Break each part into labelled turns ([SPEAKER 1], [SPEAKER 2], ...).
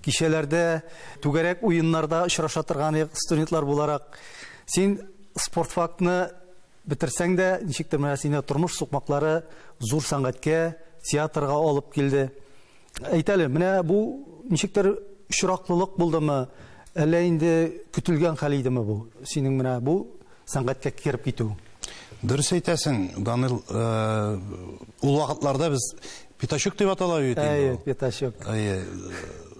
[SPEAKER 1] Кичәләрдә түгәрәк уеннарда очраша торган студентлар буларак, син спортфакны бетерсәң дә, ничектер менә сине тормыш сукмаклары зур сәнгатькә, театрга алып килде. Әйт әле, менә бу ничектер очраклылык булдымы, әллә инде көтелгән хәл идеме бу? Синең менә бу сәнгатькә кереп китү. Дөрес
[SPEAKER 2] әйтәсең, Данил. Ул вакытларда без пятачок дип атала бит инде. Әйе, пятачок. Әйе.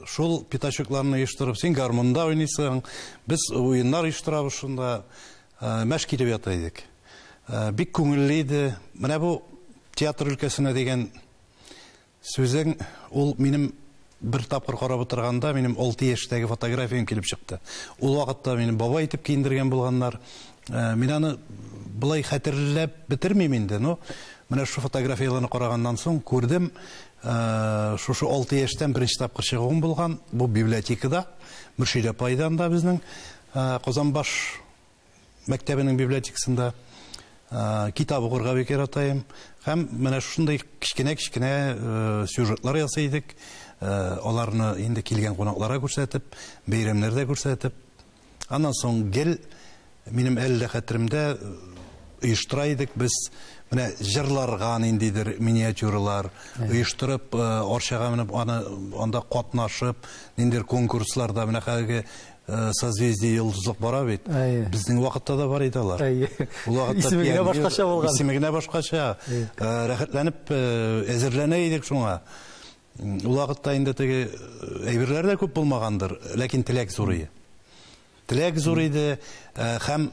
[SPEAKER 2] Шул пятачокларны оештырып, син гармунда уйныйсың, без уеннар оештырабыз шунда. Мәш килеп ята идек. Бик күңелле иде. Менә бу театр өлкәсенә дигән Сүзең, ул минем бер тапкыр карап утырганда, минем алты яшьтәге фотографиям килеп чыкты. Ул вакытта мине бабай итеп киендергән булганнар. Мин аны болай хәтерләп бетермим инде, но менә шушы фотографияләрне караганнан соң күрдем, шушы алты яшьтән беренче тапкыр чыгуым булган, бу библиотекада, Мөршидә апайда анда безнең Казанбаш. мәктәбенең библиотекасында китап укырга бик яратаем. Һәм менә шушындый кечкенә-кечкенә сюжетлар ясый идек. Аларны инде килгән кунакларга күрсәтеп, бәйрәмнәрдә күрсәтеп. Аннан соң гел минем әле дә хәтеремдә оештыра идек без менә җырларга ниндидер миниатюралар оештырып, арчага менеп аны анда катнашып, ниндидер конкурсларда менә хәзерге Э, созвездие йолдызлык бара бит безнең вакытта да бар иде алар исеме генә башкача булган
[SPEAKER 1] исеме генә башкача
[SPEAKER 2] э, рәхәтләнеп э, әзерләнә идек шуңа ул вакытта инде теге әйберләр дә күп булмагандыр ләкин теләк зур иде теләк зур иде һәм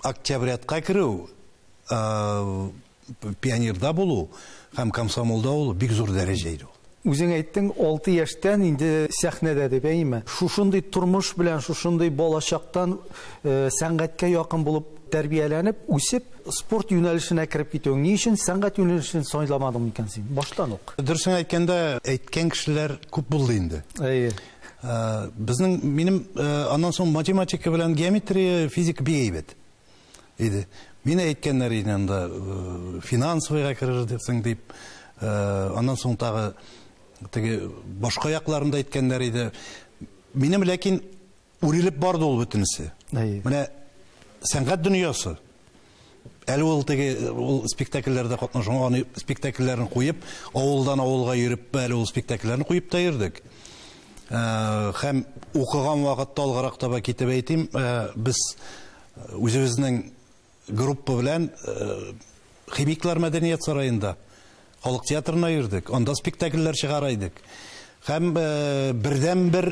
[SPEAKER 2] октябрятка керү Пионерда булу һәм комсомолда булу бик зур дәрәҗә иде ул. Үзең әйттең,
[SPEAKER 1] алты яшьтән инде сәхнәдә дип, әйеме? Шушындый тормыш белән, шушындый балачактан сәнгатькә якын булып тәрбияләнеп, үсеп, спорт юнәлешенә кереп китүең ни өчен сәнгать юнәлешен сайламадың микән син баштан ук? Дөресен әйткәндә,
[SPEAKER 2] әйткән кешеләр күп булды инде. Әйе. Безнең минем аннан соң математика белән геометрия, физика бик әйбәт. иде. Мин әйткәннәр иде анда финансовыйга керерсең дип, аннан соң тагы теге башка якларында әйткәннәр иде. Минем ләкин үрелеп барды ул бөтенесе. Менә сәнгать дөньясы. Әле ул теге ул спектакльләрдә катнашкан, аны спектакльләрен куеп, авылдан авылга йөреп, әле ул спектакльләрен куеп та йөрдек. Һәм укыган вакытта алгарак таба китеп әйтим, без үзебезнең группа белән Химиклар мәдәният сараенда халык театрына йөрдек, анда спектакльләр чыгара идек. Һәм бердәнбер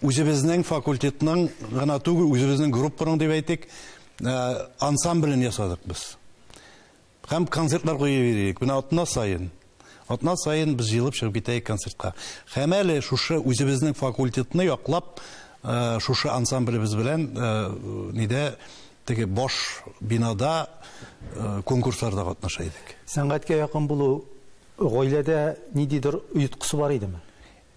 [SPEAKER 2] үзебезнең факультетның гына түгел, үзебезнең группаның дип әйтик, ансамблен ясадык без. Һәм концертлар куеп йөрик. Менә атна саен. Атна саен без җыелып чыгып китәек концертка. Һәм әле шушы үзебезнең факультетны яклап, шушы ансамблебез белән нидә теге баш бинада конкурсларда катнаша идек. Сәнгатькә якын булу
[SPEAKER 1] гаиләдә ниндидер оеткысы бар идеме?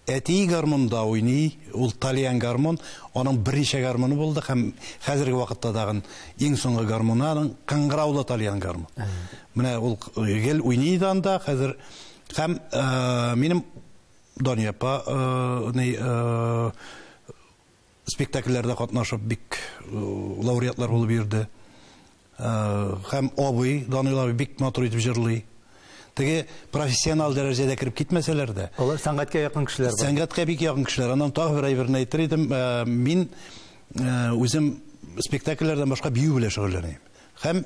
[SPEAKER 1] Әтие
[SPEAKER 2] гармунда уйный, ул тальян гармун, аның берничә гармуны булды һәм хәзерге вакытта тагын иң соңгы гармуны аның кыңгыраулы тальян гармун. Менә ул гел уйный иде анда, хәзер һәм минем Дания апа, ни, Спектакльләрдә катнашып бик лауреатлар булып йөрде. Һәм абый, Данил абый бик матур итеп җырлый. Теге профессионал дәрәҗәдә кереп китмәсәләр дә. Алар сәнгатькә якын
[SPEAKER 1] кешеләр бар. Сәнгатькә бик якын кешеләр.
[SPEAKER 2] Аннан тагы бер әйберне әйтер идем. Мин үзем спектакльләрдән башка бию белән шөгыльләнәм. Һәм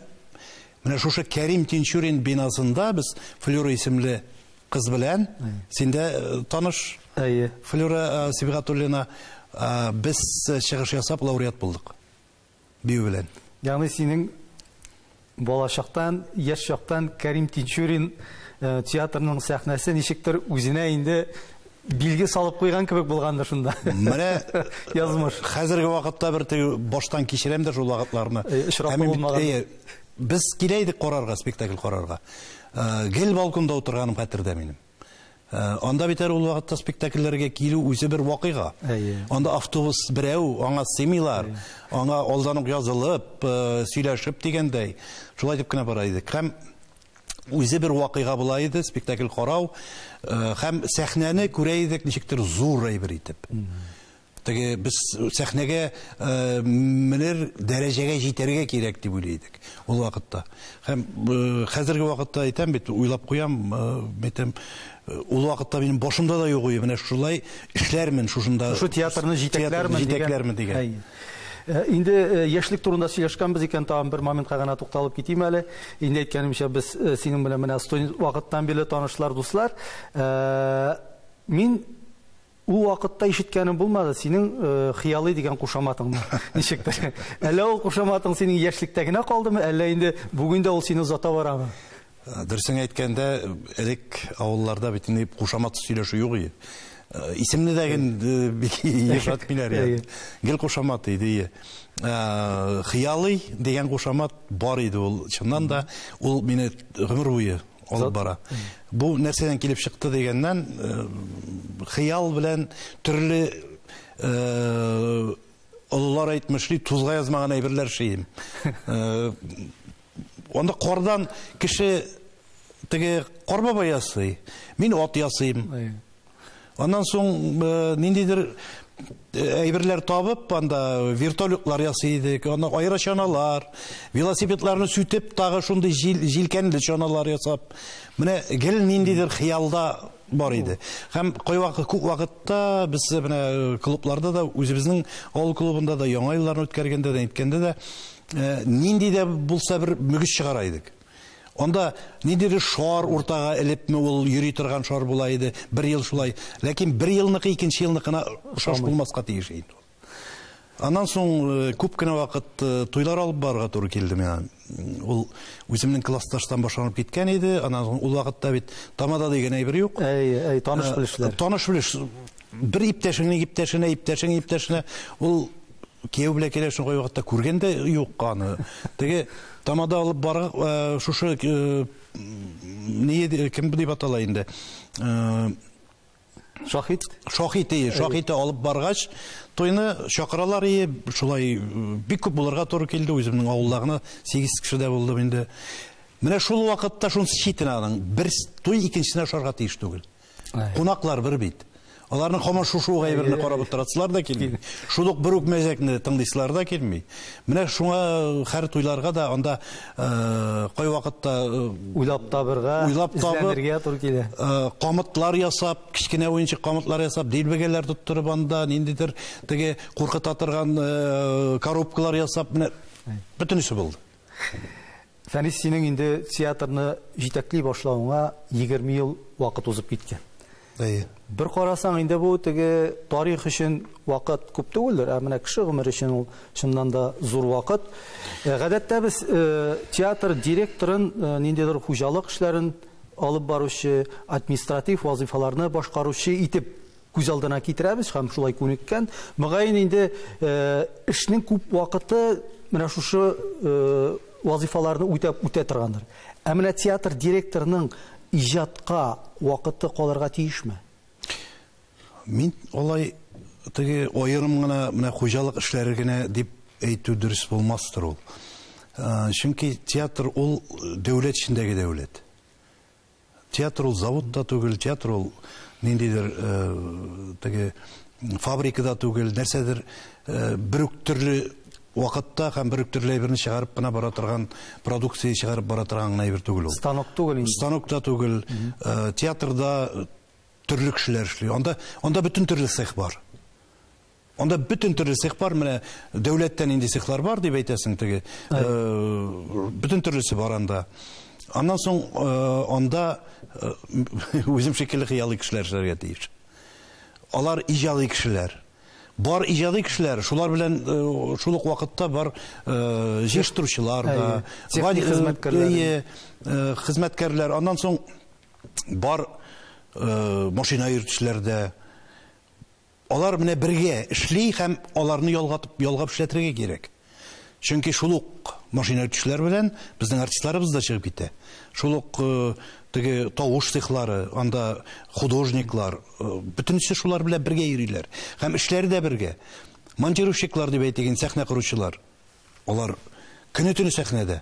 [SPEAKER 2] менә шушы Кәрим Тинчурин бинасында без Флюра исемле Кыз белән син дә таныш. Әйе. Флюра Сибгатуллина, без чыгыш ясап
[SPEAKER 1] лауреат
[SPEAKER 2] булдык. Бию белән. Ягъни
[SPEAKER 1] синең балачактан, яшь чактан Кәрим Тинчурин театрының сәхнәсе ничектер үзенә инде билге салып куйган кебек булгандыр шунда. Менә
[SPEAKER 2] язмыш.
[SPEAKER 1] Хәзерге вакытта
[SPEAKER 2] бер баштан кичерәм дә шул вакытларны. Очрап булмаган. Без килә идек карарга, спектакль карарга. Гел балконда утырганым хәтердә минем. Анда бит әле ул вакытта спектакльләргә килү үзе бер вакыйга. Анда автобус берәү, аңа сыймыйлар, аңа алдан ук язылып, сөйләшеп дигәндәй, шулай итеп кенә бара идек. Һәм үзе бер вакыйга була иде, спектакль карау һәм сәхнәне күрә идек ничектер зур әйбер итеп. Теге без сәхнәгә менер дәрәҗәгә җитәргә кирәк дип уйлый идек ул вакытта. Һәм хәзерге вакытта әйтәм бит, уйлап куям, әйтәм, ул вакытта минем башымда да юк иде, менә шулай эшләрмен шушында. Шушы театрны җитәкләрмен,
[SPEAKER 1] җитәкләрмен дигән. Э, инде э, яшьлек турында сөйләшкәнбез икән, тагын бер моментка гына тукталып китим әле. Инде әйткәнемчә, без э, синең белән менә студент вакыттан бирле танышлар, дуслар. Мин Ул вакытта ишеткәнем булмады синең хыялый дигән кушаматыңны. Ничектер. Әллә ул кушаматың синең яшьлектә генә калдымы, әллә инде бүген дә ул сине озата барамы? Дөресен
[SPEAKER 2] әйткәндә, элек авылларда бит инде кушамат сөйләшү юк иде. Исемне дә бик ешат биләр иде. Гел кушамат иде. Хыялый дигән кушамат бар иде ул. Чыннан да ул мине гомер буе алып бара. Бу нәрсәдән килеп чыкты дигәннән, хыял белән төрле олылар әйтмешли, тузга язмаган әйберләр шием. Анда кардан кеше теге кар баба ясый, мин ат ясыйм. Аннан соң ниндидер әйберләр табып, анда вертолетлар ясый идек, аны айра чаналар, велосипедларны сүтеп, тагы шундый җил, җилкәнле чаналар ясап. Менә гел ниндидер хыялда бар иде. Һәм кайвакыт күп вакытта без менә клубларда да үзебезнең авыл клубында да яңа елларны үткәргәндә дә, әйткәндә дә нинди дә булса бер мөгез чыгара идек. Анда ниндидер шар уртага элепме ул йөри торган шар була иде, бер ел шулай. Ләкин бер елныкы икенче елныкына ошаш булмаска тиеш инде ул. Аннан соң э, күп кенә вакыт э, туйлар алып барырга туры килде миңа. Ул үземнең классташтан башланып киткән иде. Аннан соң ул вакытта бит тамада дигән әйбер юк. Әй, әй, таныш э, белешләр.
[SPEAKER 1] Таныш белеш.
[SPEAKER 2] Бер иптәшеңнең иптәшенә, иптәшең иптәшенә ул Кияү белән килә шул кайвакытта күргән дә юк аны. Теге тамада алып бар э, шушы э, ни э, кем дип атала инде? Шахид. Шахид, ие, шахиде алып баргач, туйны чакыралар ие, шулай бик күп булырга туры килде, үземнең авылда гына 8 кеше дә булдым инде. Менә шул вакытта шунысы читен аның, бер туй икенчесенә ошарга тиеш түгел. Кунаклар бер бит. Аларның һаман шушы ук әйберне карап утырасылар да килми. Шул ук бер үк мәзәкне тыңлыйсылар да килми. Менә шуңа э, хәр туйларга да анда э, кай вакытта э, уйлап табырга,
[SPEAKER 1] уйлап табырга туры килә. Камытлар
[SPEAKER 2] ясап, кечкенә уенчык камытлар ясап, дилбегәләр тоттырып анда ниндидер теге куркыта торган коробкалар ясап, менә бөтенесе булды.
[SPEAKER 1] Фәнис, синең инде театрны җитәкли башлавыңа 20 ел вакыт узып киткән. Әйе. Бер карасаң, инде бу теге тарих өчен вакыт күп түгелдер, ә менә кеше гомере өчен ул чыннан да зур вакыт. Э, гадәттә без э, театр директорын, э, ниндидер хуҗалык эшләрен алып баручы, административ вазыйфаларны башкаручы итеп күз алдына китерәбез һәм шулай күнеккән. Мөгаен инде эшнең күп вакыты менә шушы вазифаларны үтәп үтә торгандыр. Ә менә театр директорының иҗатка вакыты калырга тиешме?
[SPEAKER 2] Мин алай теге аерым гына менә хуҗалык эшләре генә дип әйтү дөрес булмастыр ул. Чөнки театр ул дәүләт эчендәге дәүләт. Театр ул завод та түгел, театр ул ниндидер теге фабрика да түгел, нәрсәдер бер үк төрле вакытта һәм бер үк төрле әйберне чыгарып кына бара торган продукция чыгарып бара торган гына әйбер түгел ул. Станок түгел инде. Станок
[SPEAKER 1] та түгел.
[SPEAKER 2] Театрда төрле кешеләр эшли. Анда анда бөтен төрле цех бар. Анда бөтен төрле цех бар, менә дәүләттә нинди цехлар бар дип әйтәсең теге. Э, бөтен төрлесе бар анда. Аннан соң э, анда э, үзем шикелле хыялый кешеләр эшләргә тиеш. Алар иҗади кешеләр. Бар иҗади кешеләр, шулар белән шул ук вакытта бар җыештыручылар да, техник хезмәткәрләр. Хезмәткәрләр. Аннан соң бар машина йөртүчеләр дә, Алар менә бергә эшли һәм аларны ялгатып, ялгап эшләтергә кирәк. Чөнки шул ук машина үтүчеләр белән безнең артистларыбыз да чыгып китә. Шул ук теге тавыш цехлары, анда художниклар, бөтенесе шулар белән бергә йөриләр. Һәм эшләре дә бергә. Монтировщиклар дип әйтик инде, сәхнә коручылар. Алар көне-төне сәхнәдә.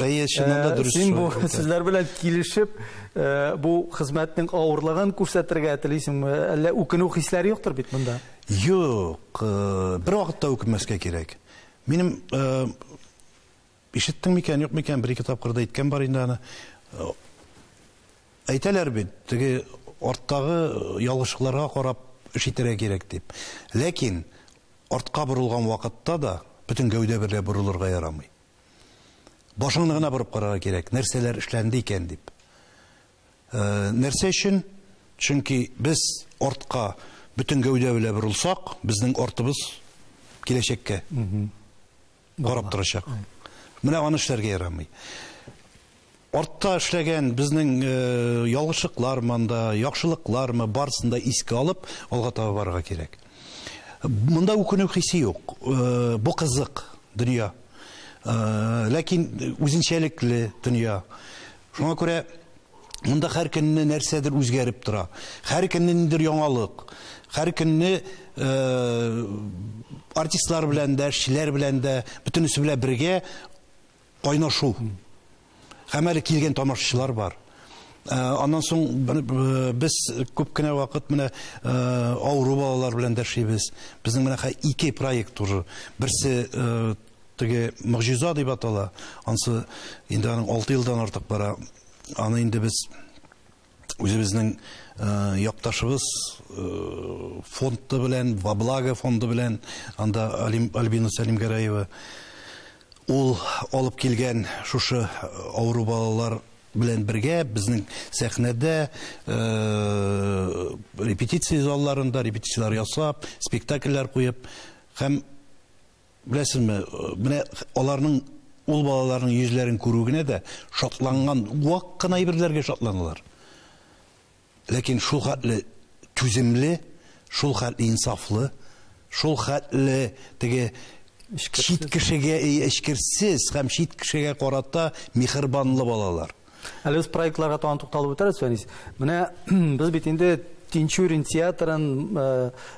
[SPEAKER 1] Әйе, чыннан да э, дөрес.
[SPEAKER 2] Син бу сүзләр белән
[SPEAKER 1] килешеп, э, бу хезмәтнең авырлыгын күрсәтергә телисеңме? Әллә үкенү хисләре юктыр бит монда? Юк,
[SPEAKER 2] э, бер вакытта үкенмәскә кирәк. Минем ишеттең микән, юк микән, бер ике тапкырда әйткән бар инде аны. Әйтәләр бит, теге арттагы ялгышлыкларга карап эш итәргә кирәк дип. Ләкин артка борылган вакытта да бөтен гәүдә берлә борылырга ярамый. Башыңны гына борып карарга кирәк, нәрсәләр эшләнде икән дип. Нәрсә өчен? Чөнки без артка бөтен гәүдә белән борылсак, безнең артыбыз киләчәккә карап торачак. Менә аны эшләргә ярамый. Артта эшләгән безнең ялгышлыклар монда, яхшылыклар мы, барысын да искә алып, алга таба барырга кирәк. Монда үкенү хисе юк. Бу кызык дөнья. Ләкин үзенчәлекле дөнья. Шуңа күрә монда һәр көнне нәрсәдер үзгәреп тора. Һәр көнне ниндидер яңалык. Һәр көнне артистлар белән дә, эшчеләр белән дә, бөтенесе белән бергә кайнашу һәм әле килгән тамашачылар бар. Э, аннан соң э, без күп кенә вакыт менә э, авыру балалар белән дәшибез. Безнең менә ике проект уже. Берсе теге Могҗиза дип атала. Ансы инде аның 6 елдан артык бара. Аны инде без үзебезнең якташыбыз фонды белән, во благо фонды белән, анда Альбина Сәлимгәрәева, ул алып килгән шушы авыру балалар белән бергә безнең сәхнәдә репетиция залларында репетицияләр ясап, спектакльләр куеп һәм Беләсезме, менә аларның, ул балаларның йөзләрен күрү генә дә шатланган, вак кына әйберләргә шатланалар. Ләкин шул хәтле түземле, шул хәтле инсафлы, шул хәтле теге чит кешегә эчкерсез һәм чит кешегә карата михербанлы балалар. Әле без проектларга
[SPEAKER 1] тагын тукталып үтәрбез, Фәнис. Менә без бит инде Тинчурин театрын э,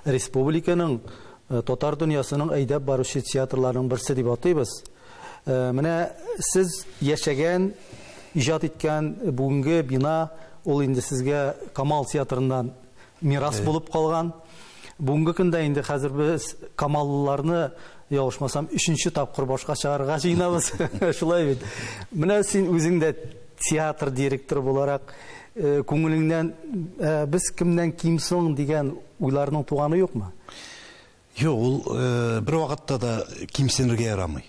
[SPEAKER 1] республиканың э, татар дөньясының әйдәп баручы театрларының берсе дип атыйбыз. Э, менә сез яшәгән, иҗат иткән бүгенге бина ул инде сезгә Камал театрыннан мирас булып калган. Бүгенге көндә инде хәзер без камаллыларны, ялгышмасам, өченче тапкыр башка чыгарырга җыенабыз. Шулай бит. Менә син үзең дә театр директоры буларак, күңелеңнән без кемнән ким соң дигән уйларның туганы юкмы? Юк,
[SPEAKER 2] ул бервакытта да кимсенергә ярамый.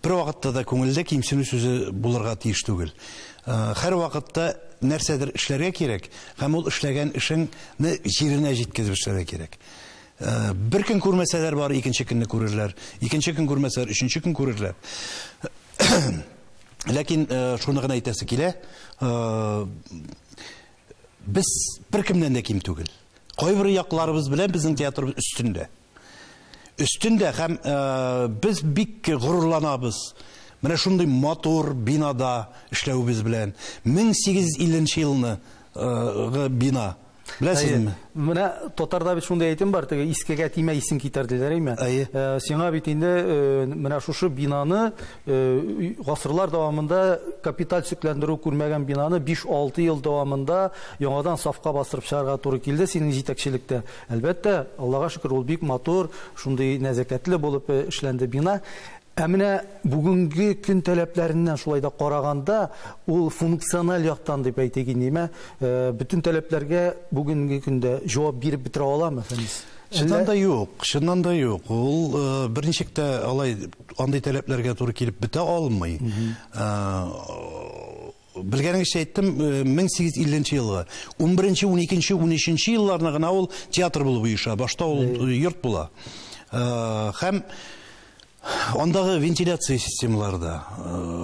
[SPEAKER 2] Бервакытта да күңелдә кимсенү сүзе булырга тиеш түгел. Һәрвакытта нәрсәдер эшләргә кирәк, һәм ул эшләгән эшеңне җиренә җиткезеп эшләргә кирәк. Бер көн күрмәсәләр бар, икенче көнне күрерләр. Икенче көн күрмәсәләр, өченче көн күрерләр. Ләкин шуны гына әйтәсе килә, Без беркемнән дә ким түгел. Кайбер якларыбыз белән безнең театрыбыз өстендә. Өстендә һәм э, без бик горурланабыз. Менә шундый матур бинада эшләвебез белән 1850 елны э, бина Беләсезме? Менә
[SPEAKER 1] татарда бит шундый әйтем бар, теге искегә тимә исең китәр диләр, әйме? Әйе. Э, сиңа бит инде э, менә шушы бинаны гасырлар дәвамында капиталь төзекләндерү күрмәгән бинаны 5-6 ел дәвамында яңадан сафка бастырып чыгарга туры килде синең җитәкчелектә. Әлбәттә, Аллага шөкер, ул бик матур, шундый нәзәкәтле булып э, эшләнде бина. Ә менә бүгенге көн таләпләреннән шулай да караганда, ул функциональ яктан дип әйтик инде, ә, э, бөтен таләпләргә бүгенге көндә җавап биреп бетерә аламы, Фәнис? Чыннан да юк,
[SPEAKER 2] чыннан да юк. Ул э, берничек тә алай Андый таләпләргә туры килеп бетә алмый. Белгәнегезчә әйттем, 1850 э, елгы. 11-нче, 12-нче, 13-нче елларны гына ул театр булып оеша. Башта ул э, йорт була. Э, һәм Андагы вентиляция системалары да,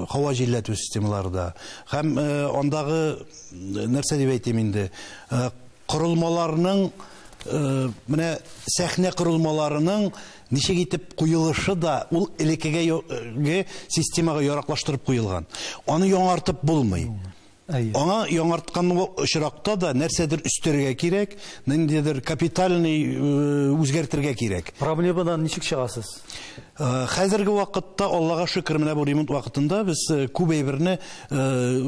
[SPEAKER 2] һава җилләтү системалары да, һәм андагы нәрсә дип әйтим инде, Корылмаларның, менә сәхнә корылмаларының ничек итеп куелышы да ул элеккеге системага яраклаштырып куелган. Аны яңартып булмый. Аңа яңарткан очракта да нәрсәдер өстәргә кирәк, ниндидер капитальный үзгәртергә кирәк. Проблемадан ничек
[SPEAKER 1] чыгасыз? Хәзерге
[SPEAKER 2] вакытта, Аллага шөкер, менә бу ремонт вакытында без күп әйберне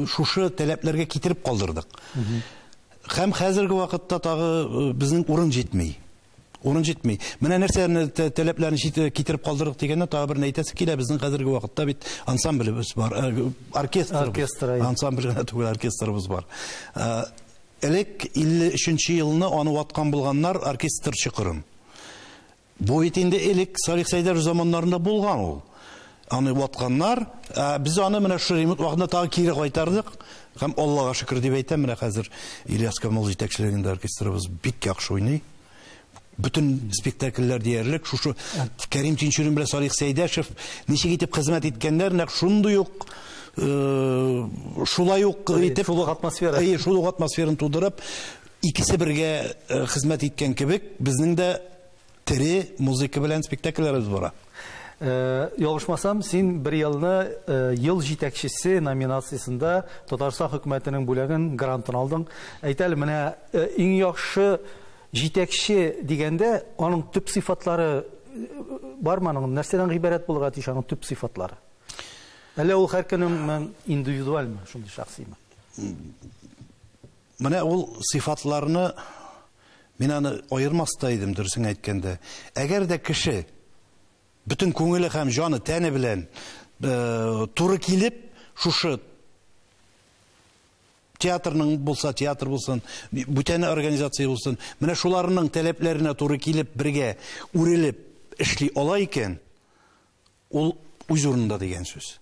[SPEAKER 2] шушы таләпләргә китереп калдырдык. Һәм хәзерге вакытта тагы безнең урын җитми. Урын җитми. Менә нәрсәләрне таләпләрен китереп калдырдык дигәндә, тагы берне әйтәсе килә, безнең хәзерге вакытта бит ансамблебез бар, оркестр, оркестр, ансамбль генә түгел, оркестрыбыз бар. Элек 53 елны аны ваткан булганнар оркестр чокырын. Бу бит инде элек Салих Сәйдәров заманнарында булган ул. Аны ватканнар, ә без аны менә шул ремонт вакытында тагы кире кайтардык. Һәм Аллага шөкер дип әйтәм, менә хәзер Ильяс Камал җитәкчелегендә оркестрыбыз бик яхшы уйный. Бөтен спектакльләр диярлек шушы Кәрим Тинчурин белән Салих Сәйдәшев ничек итеп хезмәт иткәннәр, нәкъ шундый ук э, шулай ук итеп шул атмосфера. Шул атмосфераны тудырып, Икесе бергә хезмәт иткән кебек, безнең дә тере музыка белән спектакльләребез бара.
[SPEAKER 1] Ялгышмасам, син бер елны Ел җитәкчесе номинациясендә Татарстан хөкүмәтенең бүләген, грантын алдың. Әйт әле, менә иң яхшы җитәкче дигәндә, аның төп сыйфатлары бармы аның? Нәрсәдән гыйбарәт булырга тиеш аның төп сыйфатлары? Әллә ул һәркемнең индивидуальмы, шундый шәхсиме?
[SPEAKER 2] Менә ул сыйфатларны мин аны аермас та идем, дөресен әйткәндә. Әгәр дә кеше бөтен күңеле һәм җаны, тәне белән э, туры килеп, шушы театрның булса театр булсын, бүтәне организация булсын, менә шуларның таләпләренә туры килеп, бергә үрелеп эшли ала икән, Ул үз урынында дигән сүз.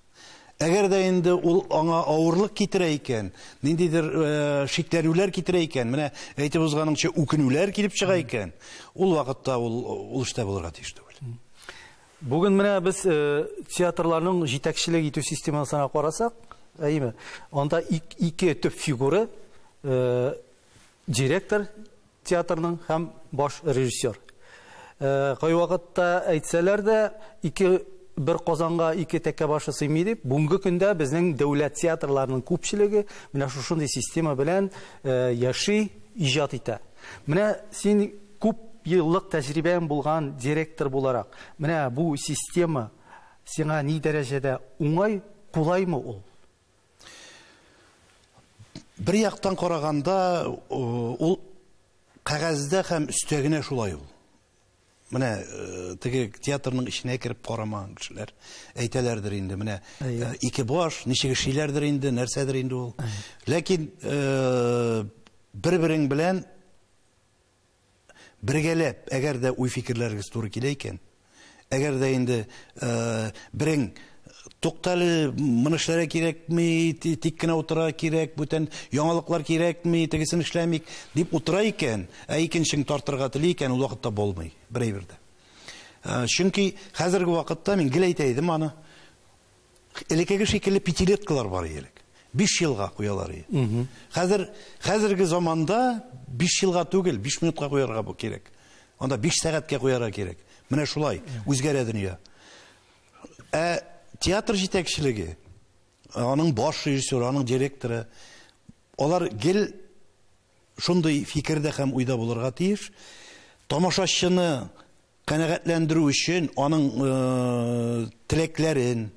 [SPEAKER 2] Әгәр дә инде ул аңа авырлык китерә икән, ниндидер шикләнүләр китерә икән, менә әйтеп узганыңча үкенүләр килеп чыга икән, ул вакытта ул ул эштә булырга тиеш түгел. Бүген
[SPEAKER 1] менә без театрларның җитәкчелек итү системасына карасак, әйеме? Анда ике төп фигура, директор Театрның һәм баш режиссер. Кайвакытта әйтсәләр дә, ике бер казанга ике тәкә башы сыймый дип, бүгенге көндә безнең дәүләт театрларының күпчелеге менә шушындый система белән яши, иҗат итә. Менә син күп еллык тәҗрибәң булган директор буларак, менә бу система сиңа ни дәрәҗәдә уңай, кулаймы ул?
[SPEAKER 2] Бер яктан караганда, ул кәгазьдә һәм өстәгенә шулай ул. Менә э, теге театрның эченә кереп карамаган кешеләр әйтәләрдер инде. Менә э, ике баш, ничек эшлиләрдер инде, нәрсәдер инде ул. Ләкин э, бер-берең белән Бергәләп, әгәр дә уй-фикерләрегез туры килә икән, әгәр дә инде берең Туктале, моны эшләргә кирәкми, тик кенә утыра кирәк, бүтән яңалыклар кирәкми, тегесен эшләмик, дип утыра икән, ә икенчең тартырга тели икән, ул вакытта булмый, бер әйбер дә. Чөнки хәзерге вакытта, мин гел әйтә идем аны, Элекеге шикелле пятилеткалар бар иде элек. Биш елга куялар иде. Хәзер, хәзерге заманда биш елга түгел, биш минутка куярга бу кирәк. Анда биш сәгатькә куярга кирәк. Менә шулай, үзгәрә дөнья. Ә театр җитәкчелеге, аның баш режиссеры, аның директоры, алар гел шундый фикердә һәм уйда булырга тиеш. Тамашачыны Канәгатьләндерү өчен аның теләкләрен,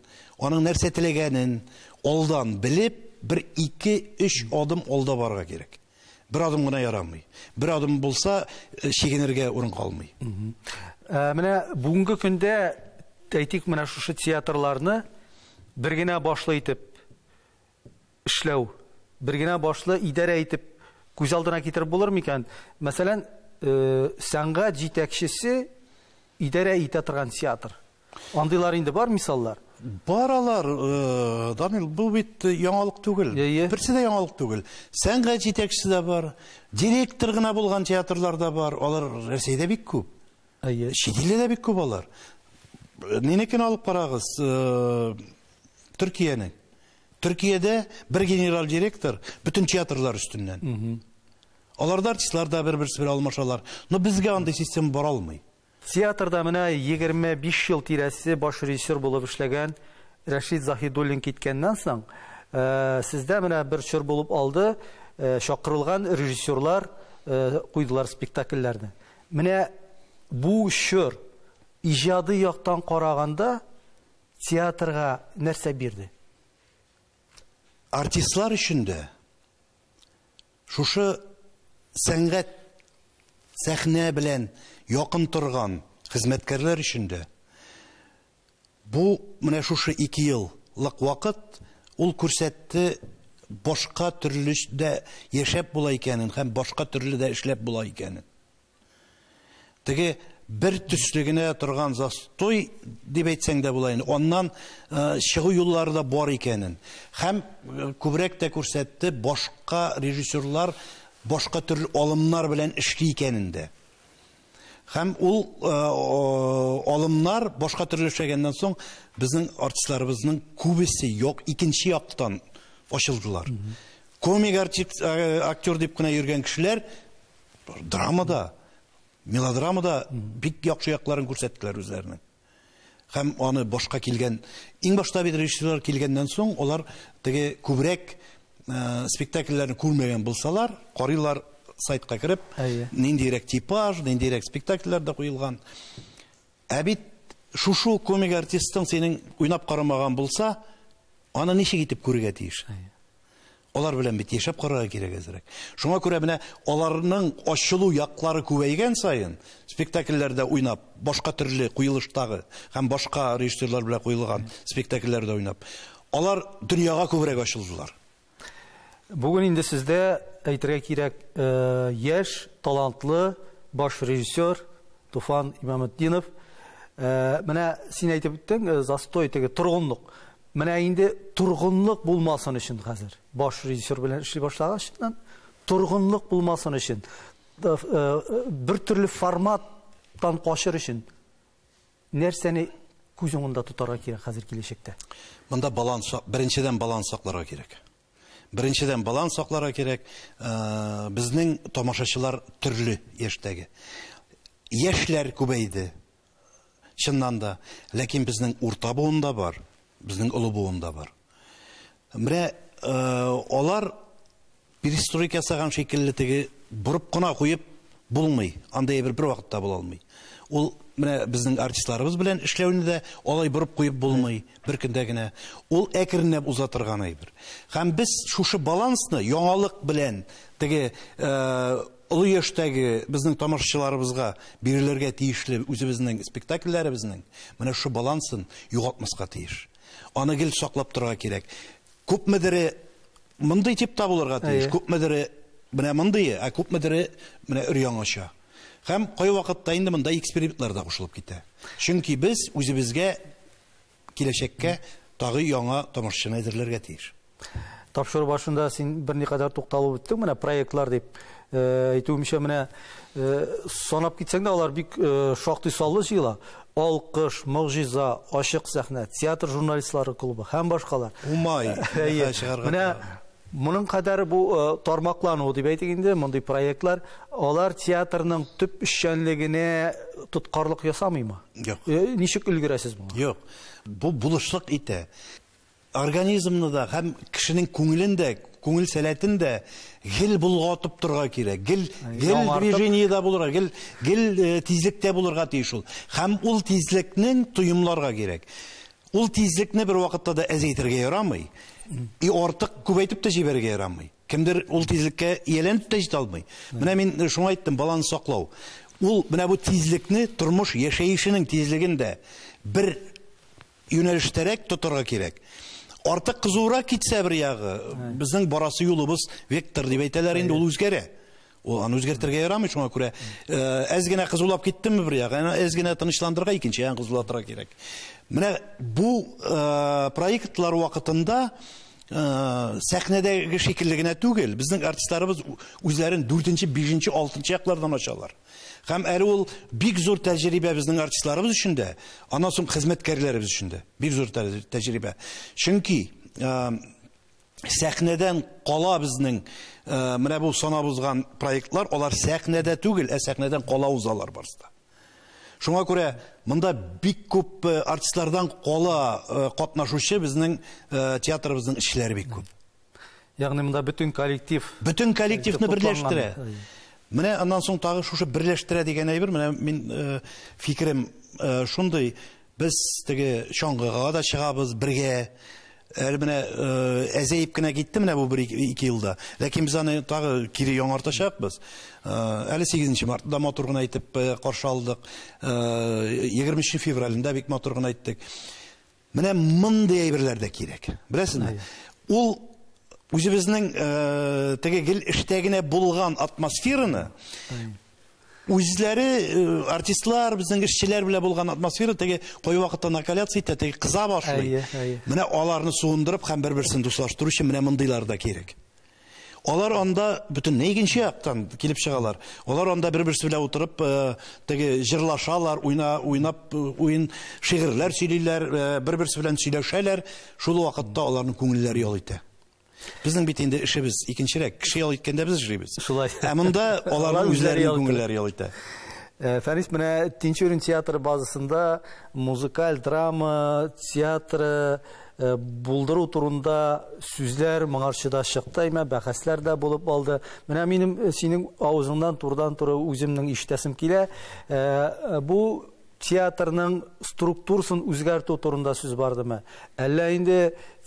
[SPEAKER 2] аның нәрсә теләгәнен алдан белеп, бер ике-өч адым алда барырга кирәк. Бер адым гына ярамый. Бер адым булса, э, чигенергә
[SPEAKER 1] урын калмый. Ә,
[SPEAKER 2] менә бүгенге
[SPEAKER 1] көндә әйтик, менә шушы театрларны бер генә башлы итеп эшләү бер генә башлы идарә итеп күз алдына китереп булыр микән? Мәсәлән, сәнгать җитәкчесе идарә итә торган театр. Андыйлар инде бар мисаллар. Баралар,
[SPEAKER 2] Данил, бу бит яңалык түгел. Берсе дә яңалык түгел. Сәнгать җитәкчесе дә бар, директор гына булган театрлар да бар. Алар Россиядә бик күп. Әйе. Чит илдә дә бик күп алар. Минекен алып карагыз. Төркиянең. Төркиядә бер генераль директор бөтен театрлар өстеннән. Аларда артистлар да бер-берсе белән алмашалар. Но безгә андый система бара алмый. Театрда менә
[SPEAKER 1] 25 ел тирәсе баш режиссер булып эшләгән Рәшит Заһидуллин киткәннән соң, сездә менә бер чор булып алды, чакырылган режиссерлар куйдылар спектакльләрне. Менә бу чор, иҗади яктан караганда, Театрга нәрсә бирде?
[SPEAKER 2] Артистлар өчен дә шушы сәнгать сәхнә белән якын торган хезмәткәрләр өчен дә бу менә шушы 2 еллык вакыт ул күрсәтте башка төрле дә яшәп була икәнен һәм башка төрле дә эшләп була икәнен. Теге бер төсле генә торган застой дип әйтсәң дә була инде. Аннан чыгу юллары да бар икәнен. Һәм күбрәк тә күрсәтте, башка режиссерлар башка төрле алымнар белән эшли икәнен дә. Һәм ул алымнар башка төрле эшләгәннән соң безнең артистларыбызның күбесе юк икенче яктан ачылдылар. Комик актер дип кенә йөргән кешеләр Драмада, мелодрамада бик яхшы якларын күрсәттеләр үзләренең. Һәм аны башка килгән, иң башта бит режиссерлар килгәннән соң, алар теге күбрәк э, спектакльләрне күрмәгән булсалар, карыйлар сайтка кереп, ниндирәк типаж, ниндирәк спектакльләр дә куелган. Ә бит шушу комик артистың синең уйнап карамаган булса, аны ничек итеп күрергә тиеш? Алар белән бит яшәп карарга кирәк әзрәк. Шуңа күрә менә аларның ачылу яклары күбәйгән саен, спектакльләрдә уйнап, башка төрле куелыштагы һәм башка режиссерлар белән куелган спектакльләрдә уйнап, алар дөньяга күбрәк ачылдылар.
[SPEAKER 1] Бүген инде сездә, әйтергә кирәк, яшь, талантлы баш режиссер Туфан Имаметдинов. Менә син әйтеп үттең, застой, теге торгынлык. Менә инде торгынлык булмасын өчен хәзер. Баш режиссер белән эшли башлагач, торгынлык булмасын өчен, э, э, бер төрле форматтан качыр өчен нәрсәне күз уңында тотарга кирәк хәзер киләчәктә? Монда баланс,
[SPEAKER 2] беренчедән баланс сакларга кирәк. Беренчедән баланс сакларга кирәк. Э, безнең тамашачылар төрле яшьтәге. Яшьләр күбәйде. Чыннан да, ләкин безнең урта буын да бар, безнең олы буын да бар. Менә алар перестройка ясаган шикелле теге борып кына куеп булмый. Андый әйбер бер вакытта була алмый. Ул менә безнең артистларыбыз белән эшләүне дә алай борып куеп булмый бер көндә генә. Ул әкренләп уза торган әйбер. Һәм без шушы балансны яңалык белән теге Олы яшьтәге безнең тамашачыларыбызга бирелергә тиешле үзебезнең спектакльләребезнең менә шушы балансын югалтмаска тиеш. Аны гел саклап торырга кирәк. Күпмедере мондый типта булырга тиеш, күпмедере менә мондые, ә күпмедере менә өр-яңача. Һәм кайвакытта инде монда экспериментлар да кушылып китә. Чөнки без үзебезгә киләчәккә тагы яңа тамашачыны әзерләргә тиеш. Тапшыру
[SPEAKER 1] башында син берникадәр тукталып үттең менә проектлар дип. Э, әйтүемчә менә э, санап китсәң дә алар бик э, шактый саллы җыела. Алкыш, Могҗиза, Ачык сәхнә, театр журналистлары клубы һәм башкалар. Умай.
[SPEAKER 2] Менә
[SPEAKER 1] Моның кадәр бу э, тармаклану дип әйтик инде, мондый проектлар, алар театрның төп эшчәнлегенә тоткарлык ясамыймы? Юк. Э, ничек
[SPEAKER 2] өлгерәсез
[SPEAKER 1] моңа? Юк. Бу
[SPEAKER 2] булышлык итә. Организмны да һәм кешенең күңелен дә, күңел сәләтен дә гел болгатып торга кирәк. Гел гел движениедә булырга, гел гел э, тизлектә булырга тиеш ул. Һәм ул тизлекнең тоемларга кирәк. Ул тизлекне бервакытта да әзәйтергә ярамый, и артык күбәйтеп тә җибәрергә ярамый. Кемдер ул тизлеккә ияләнеп тә җитә алмый. Менә мин э, шуңа әйттем, баланс саклау. Ул менә бу тизлекне, тормыш яшәешенең тизлеген дә бер юнәлештәрәк тотарга кирәк. Артык кызурак китсә бер ягы, безнең барасы юлыбыз вектор дип әйтәләр инде, ул үзгәрә. Ул аны үзгәртергә ярамый, шуңа күрә э, әз генә кызулап киттеме бер як, әз генә тынычландырырга икенче ягын кызулатырга кирәк. Менә бу э, проектлар вакытында э, сәхнәдәге шикелле генә түгел, безнең артистларыбыз үзләрен 4-нче, 5-нче, 6-нчы яклардан ачалар. Һәм әле ул бик зур тәҗрибә безнең артистларыбыз өчен дә, аннан соң хезмәткәрләребез өчен дә бик зур тәҗрибә. Чөнки сәхнәдән кала безнең э, менә бу санап узган проектлар алар сәхнәдә түгел ә сәхнәдән кала узалар барысы да шуңа күрә монда бик күп э, артистлардан кала э, катнашучы безнең театрыбызның эшләре бик күп ягъни монда
[SPEAKER 1] бөтен коллектив бөтен коллективны
[SPEAKER 2] берләштерә менә аннан соң тагы шушы берләштерә дигән әйбер менә мин фикерем шундый Без теге чаңгыга да чыгабыз бергә. Әле менә әзәеп кенә китте менә бу бер ике елда. Ләкин без аны тагы кире яңартачакбыз. Әле 8 мартны да матур гына итеп каршы алдык. 23 февральне дә бик матур гына иттек. Менә мондый әйберләр дә кирәк. Беләсезме? Ул үзебезнең теге гел эштә генә булган атмосфераны үзләре э, артистлар безнең эшчеләр белән булган атмосфера теге кой вакытта накаляться итә теге кыза башлый әйе әйе менә аларны суындырып һәм бер берсен дуслаштыру өчен менә мондыйлар да кирәк алар анда бөтенләй икенче яктан килеп чыгалар алар анда бер берсе белән утырып э, теге җырлашалар уйна уйнап э, уен шигырьләр сөйлиләр бер берсе белән сөйләшәләр шул вакытта аларның күңелләре ял итә Безнең бит инде эшебез икенчерәк. Кеше ял иткәндә без эшлибез. Шулай. Ә монда аларның үзләренең күңелләре ял итә. Э, Фәрис, менә
[SPEAKER 1] Тинчурин театры базасында музыкаль драма театры э, булдыру турында сүзләр моңарчы да чыкты, әйме, бәхәсләр дә булып алды. Менә минем э, синең авызыңнан турдан-туры үземнең ишетәсем килә. Бу Театрның структурсын үзгәртү турында сүз бардымы? Әллә инде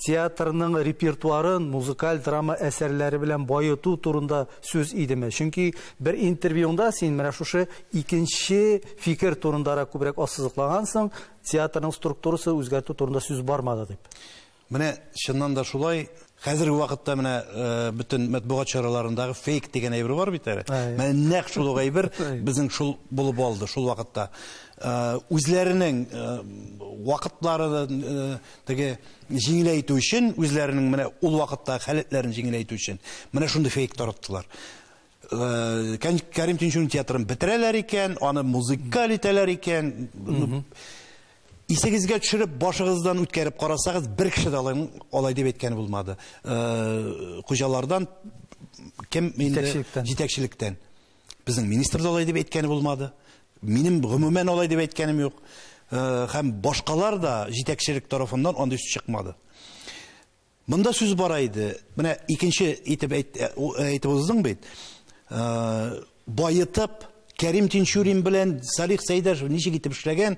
[SPEAKER 1] театрның репертуарын музыкаль драма әсәрләре белән баету турында сүз идеме? Чөнки бер интервьюңда син менә шушы икенче фикер турындарак күбрәк ассызыклагансың, театрның структурасы үзгәртү турында сүз бармады дип. Менә
[SPEAKER 2] чыннан да шулай. Хәзерге вакытта менә бөтен матбугат чараларындагы фейк дигән әйбер бар бит әле. Менә нәкъ шул ук әйбер безнең шул булып алды шул вакытта. Үзләренең вакытлары теге җиңеләйтү өчен, үзләренең менә ул вакытта халәтләрен җиңеләйтү өчен менә шундый фейк тараттылар. Кәрим Тинчурин театрын бетерәләр икән, аны музыкаль итәләр икән. Исегезгә төшереп, башыгыздан үткәреп карасагыз, бер кеше дә алай, алай дип әйткән булмады. Э, хуҗалардан кем инде җитәкчелектән. җитәкчелектән. Безнең министр да алай дип әйткән булмады. Минем гомумән алай дип әйткәнем юк. Э, һәм башкалар да җитәкчелек тарафыннан андый сүз чыкмады. Монда сүз бара иде. Менә икенче итеп әйт, э, э, әйтеп уздың бит. Э, Баетып, Кәрим Тинчурин белән Салих Сәйдәшев ничек итеп эшләгән?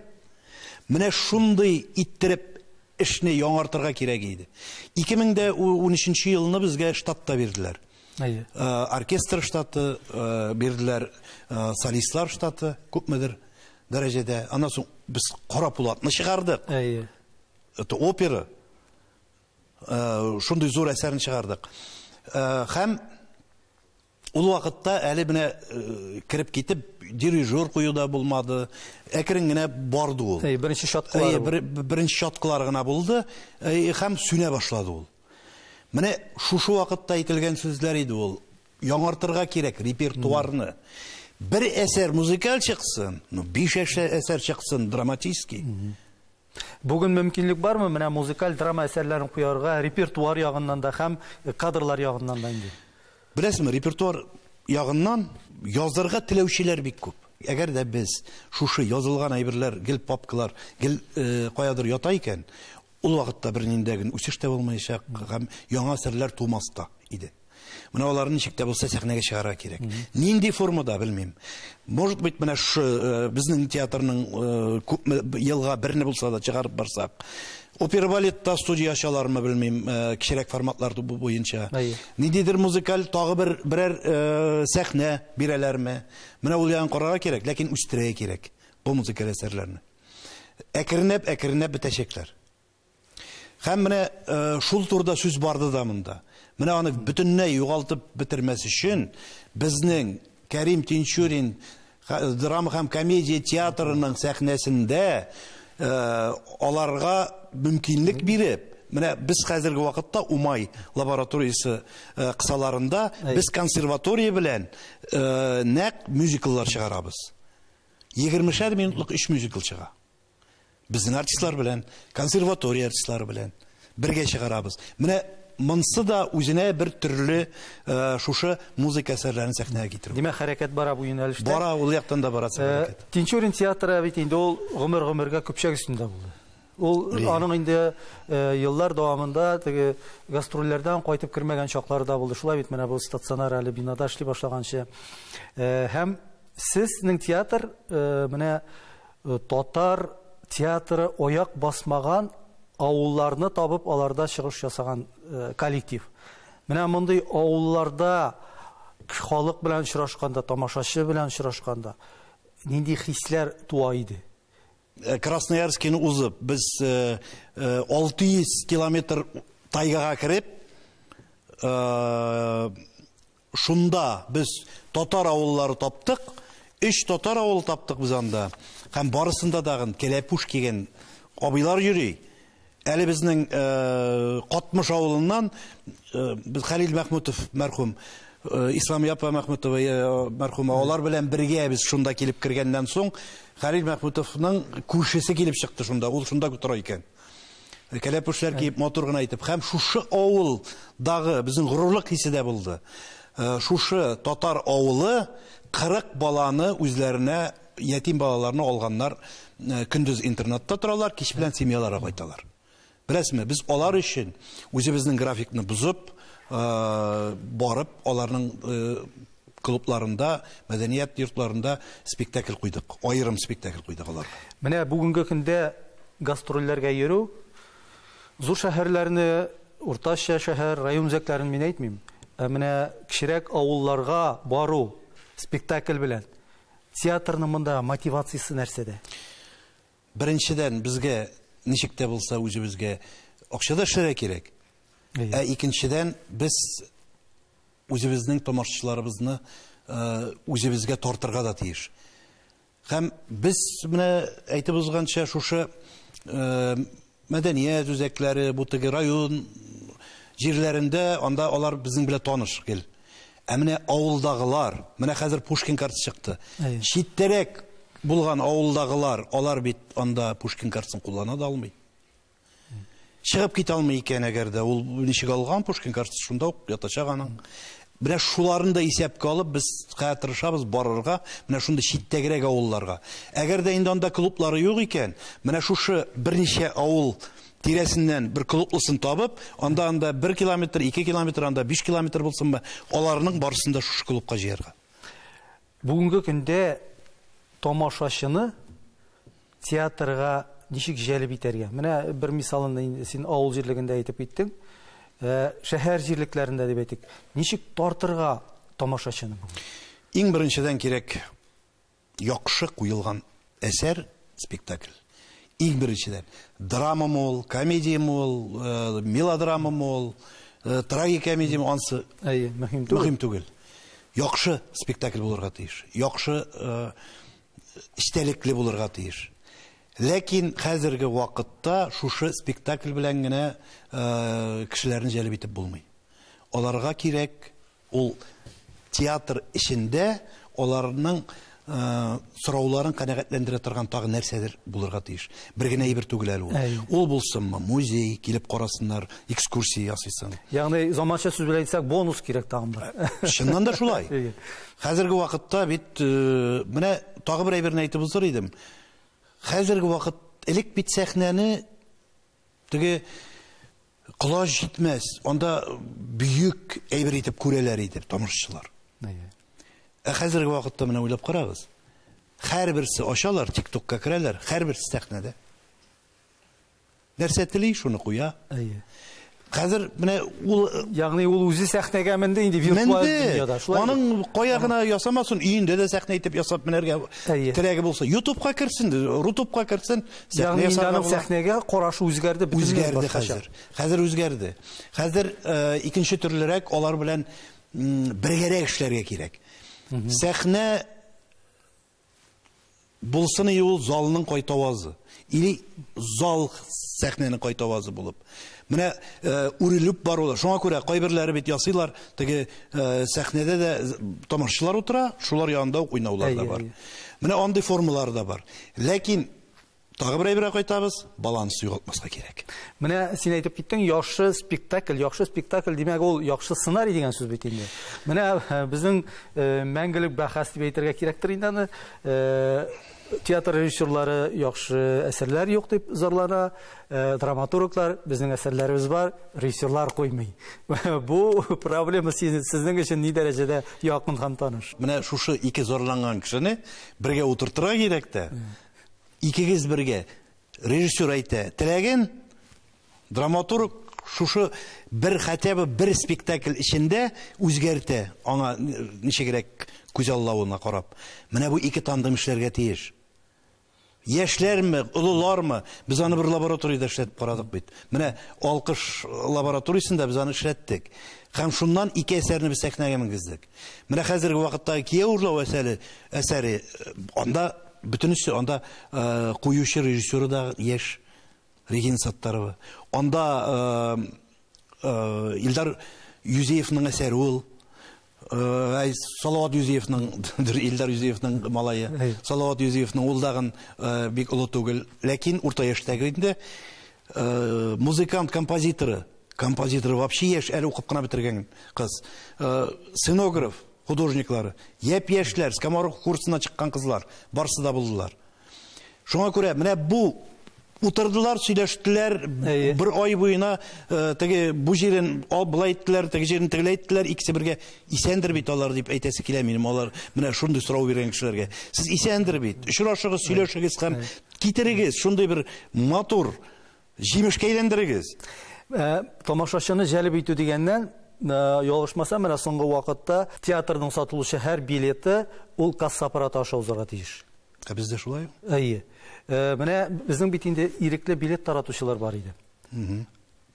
[SPEAKER 2] Менә шундый иттереп эшне яңартырга кирәк иде. 2013 елны безгә штат та бирделәр. Әйе. Э, оркестр штаты э, бирделәр, э, солистлар штаты күпмедер дәрәҗәдә. Аннан соң без Кара Пулатны чыгардык. Әйе. Это опера. шундый зур әсәрен чыгардык. Һәм ул вакытта әле менә кереп китеп, дирижер кую да булмады. Әкрен генә барды ул. Әй, беренче чаткылар. Әй, беренче чаткылар гына булды. Әй, һәм сүнә башлады ул. Менә шушы вакытта әйтелгән сүзләр иде ул. Яңартырга кирәк репертуарны. Бер әсәр музыкаль чыксын, ну, биш әсәр чыксын драматический.
[SPEAKER 1] Бүген мөмкинлек бармы менә музыкаль драма әсәрләрен куярга, репертуар ягыннан да һәм кадрлар ягыннан да инде? Беләсезме, репертуар
[SPEAKER 2] ягыннан язырга теләүчеләр бик күп. Әгәр дә без шушы язылган әйберләр гел папкалар, гел каядыр ята икән, ул вакытта берниндәген үсеш тә булмаячак һәм яңа әсәрләр тумас та иде. Менә аларны ничек тә булса сәхнәгә чыгарга кирәк. Нинди формада белмим. Может быть, менә шу э, безнең театрның э, күп елга берне булса да чыгарып барсак. Опера балетта студия ачалармы белмим, э, кичерәк форматлар бу буенча. Ниндидер музыкаль тагы бер берәр сәхнә бирәләрме? Менә ул ягын карарга кирәк, ләкин үстерә кирәк бу музыкаль әсәрләрне. Әкренләп, әкренләп бетәчәкләр. Һәм менә шул турыда сүз барды да монда. Менә аны бөтенләй югалтып бетермәс өчен безнең Кәрим Тинчурин драма һәм комедия театрының сәхнәсендә аларга мөмкинлек биреп, менә без хәзерге вакытта Умай лабораториясе кысаларында без консерватория белән нәкъ мюзикллар чыгарабыз. Егермешәр минутлык өч мюзикл чыга. Безнең артистлар белән, консерватория артистлары белән бергә чыгарабыз. Менә монсы да үзенә бер төрле э, шушы музыка әсәрләрен сәхнәгә китерү. Димәк, хәрәкәт бара бу
[SPEAKER 1] юнәлештә. Бара, ул яктан да бара
[SPEAKER 2] э, хәрәкәт. Тинчурин театры
[SPEAKER 1] бит инде ул гомер-гомергә көпчәк өстендә булды. Ул аның инде э, еллар дәвамында теге гастрольләрдән кайтып кермәгән чаклары да булды. Шулай бит менә бу стационар әле бинада эшли башлаганчы. Һәм сезнең театр менә Татар театры аяк басмаган авылларны табып, аларда чыгыш ясаган коллектив. Менә мондый авылларда халык белән очрашканда, тамашачы белән очрашканда нинди хисләр туа иде? Красноярскине
[SPEAKER 2] узып, без 600 километр тайгага кереп, Шунда без татар авыллары таптык, өч татар авылы таптык без анда. Һәм барысында дагын кәләпүш кигән абыйлар йөри. Әле безнең э, Катмыш авылыннан э, без Хәлил Мәхмүтов мәрхүм э, Ислам Япа Мәхмүтова э, мәрхүм алар белән бергә без шунда килеп кергәннән соң Хәлил Мәхмүтовның күршесе килеп чыкты шунда, ул шунда тора икән. Кәләпүшләр киеп, матур гына итеп. Хәм шушы авыл дагы безнең горурлык хисе дә булды. Э, шушы татар авылы 40 баланы үзләренә ятим балаларны алганнар. Э, көндез интернатта торалар, кич белән семьяларга кайталар. Беләсезме, без алар өчен үзебезнең графикны бозып, э, барып аларның клубларында, мәдәният йортларында спектакль куйдык. Аерым спектакль куйдык аларга. Менә бүгенге көндә
[SPEAKER 1] гастрольләргә йөрү, зур шәһәрләрне, уртача шәһәр, район үзәкләрен мин әйтмим, ә менә кечерәк авылларга бару спектакль белән, театрның монда мотивациясе нәрсәдә?
[SPEAKER 2] Беренчедән, безгә ничек тә булса үзебезгә акча да эшләргә кирәк. Ә икенчедән, без үзебезнең тамашачыларыбызны үзебезгә тартырга да тиеш. Һәм без менә әйтеп узганча шушы мәдәният үзәкләре, бу теге район җирләрендә анда алар безнең белән таныш гел. Ә менә авылдагылар, менә хәзер Пушкин карты чыкты. Читтәрәк булган авылдагылар, алар бит анда Пушкин картасын куллана да алмый. Чыгып китә алмый икән, әгәр дә ул ничек алган Пушкин картасы шунда ук ятачак аның. Менә шуларын да исәпкә алып, без хәзер тырышабыз барырга, менә шундый читтәгрәк авылларга. Әгәр дә инде анда клублары юк икән, менә шушы берничә авыл тирәсеннән бер клублысын табып, анда анда 1 километр, 2 километр, анда 5 километр булсынмы, аларның барысын да шушы клубка җыярга. Бүгенге
[SPEAKER 1] көндә тамашачыны театрга ничек җәлеп итәргә? Менә бер мисалын инде син авыл җирлегендә әйтеп киттең. Ә, шәһәр җирлекләрендә дип әйтик. Ничек тартырга тамашачыны? Иң
[SPEAKER 2] беренчедән кирәк яхшы куелган Әсәр, спектакль. Иң беренчедән, драмамы ул, комедиямы ул, э, мелодрамамы ул, э, трагикомедиямы, ансы Әйе, мөһим түгел. мөһим түгел. Яхшы спектакль булырга тиеш. Яхшы э, истәлекле булырга тиеш. Ләкин хәзерге вакытта шушы спектакль белән генә э, кешеләрне җәлеп итеп булмый. Аларга кирәк Ул театр эчендә аларның сорауларын канәгатьләндерә торган тагы нәрсәдер булырга тиеш. Бер генә әйбер түгел әле ул. Ул булсынмы, музей, килеп карасыннар, экскурсия ясыйсың. Ягъни заманча сүз
[SPEAKER 1] белән әйтсәк, бонус кирәк тагын да. Чыннан да шулай.
[SPEAKER 2] Хәзерге вакытта бит менә тагы бер әйберне әйтеп узыр идем. Хәзерге вакыт элек бит сәхнәне Теге колач җитмәс, анда бөек әйбер итеп күрәләр иде тамашачылар. Ә хәзерге вакытта менә уйлап карагыз. Һәрберсе ачалар, ТикТокка керәләр, һәрберсе сәхнәдә. Нәрсә тели, шуны куя. Әйе. Хәзер менә ул ягъни ул үзе
[SPEAKER 1] сәхнәгә менде инде виртуаль дөньяда. Шулай. Аның кая
[SPEAKER 2] гына ясамасын, өендә дә сәхнә итеп ясап менәргә теләге булса, ютубка керсен, рутубка керсен, Ягъни инде аның
[SPEAKER 1] сәхнәгә карашы үзгәрде бит. Үзгәрде хәзер.
[SPEAKER 2] Хәзер үзгәрде. Хәзер э, икенче төрлерәк алар белән бергәрәк эшләргә кирәк. Сәхнә булсын и ул залның кайтавазы. Или зал сәхнәнең кайтавазы булып. Менә үрелеп барулар. Шуңа күрә кайберләре бит ясыйлар, теге сәхнәдә дә тамашачылар утыра, шулар янында ук уйнаулар да бар. Менә андый формалар да бар. Ләкин тагы бер әйбергә кайтабыз, баланс югалтмаска кирәк. Менә син әйтеп
[SPEAKER 1] киттең, яхшы спектакль, яхшы спектакль димәк ул яхшы сценарий дигән сүз бит инде. Менә безнең мәңгелек бәхәс дип әйтергә кирәктер инде аны. Театр режиссерлары яхшы әсәрләр юк дип зарлана, э, драматурглар безнең әсәрләребез бар, режиссерлар куймый. Бу проблема сезнең өчен ни дәрәҗәдә якын һәм таныш? Менә шушы ике
[SPEAKER 2] зарланган кешене бергә утыртырга кирәк тә. Икегез бергә режиссер әйтә теләген, Драматург шушы бер хотя бы бер спектакль эчендә үзгәртә, аңа ничегрәк күз аллавына карап. Менә бу ике тандем эшләргә тиеш. Яшьләрме, олылармы, без аны бер лабораториядә эшләтеп карадык бит. Менә Алкыш лабораториясендә без аны эшләттек. Һәм шуннан ике әсәрне без сәхнәгә менгездек. Менә хәзерге вакыттагы Кияү урлау әсәре, әсәре, анда бөтенесе, анда куючы режиссеры да яшь, Регина Саттарова. Анда Илдар Юзеевның әсәре ул. Әй, Салават Юзеевның, Илдар Юзеевның малае. Салават Юзеевның ул дагын бик олы түгел. Ләкин урта яшьтәге инде музыкант композиторы. Композиторы вообще яшь, әле укып кына бетергән кыз. Сценограф художниклары. Япь-яшьләр, скоморох курсына чыккан кызлар. Барсы да булдылар. Шуңа күрә менә бу утырдылар, сөйләштеләр, Әйе. бер ай буена э, теге бу җирен ал былай иттеләр, теге җирен тегеләй иттеләр, икесе бергә исәндер бит алар дип әйтәсе килә минем алар менә шундый сорау биргән кешеләргә. Сез исәндер бит. Очрашыгыз, сөйләшегез һәм китерегез шундый бер матур Җимешкә әйләндерегез. Ә,
[SPEAKER 1] тамашачыны җәлеп итү дигәннән, ә, ялгышмасам, менә соңгы вакытта театрның сатылучы һәр билеты ул касса аппараты аша узарга тиеш. Ә бездә шулай?
[SPEAKER 2] Әйе.
[SPEAKER 1] Ә, менә безнең бит инде ирекле билет таратучылар бар иде. Угу.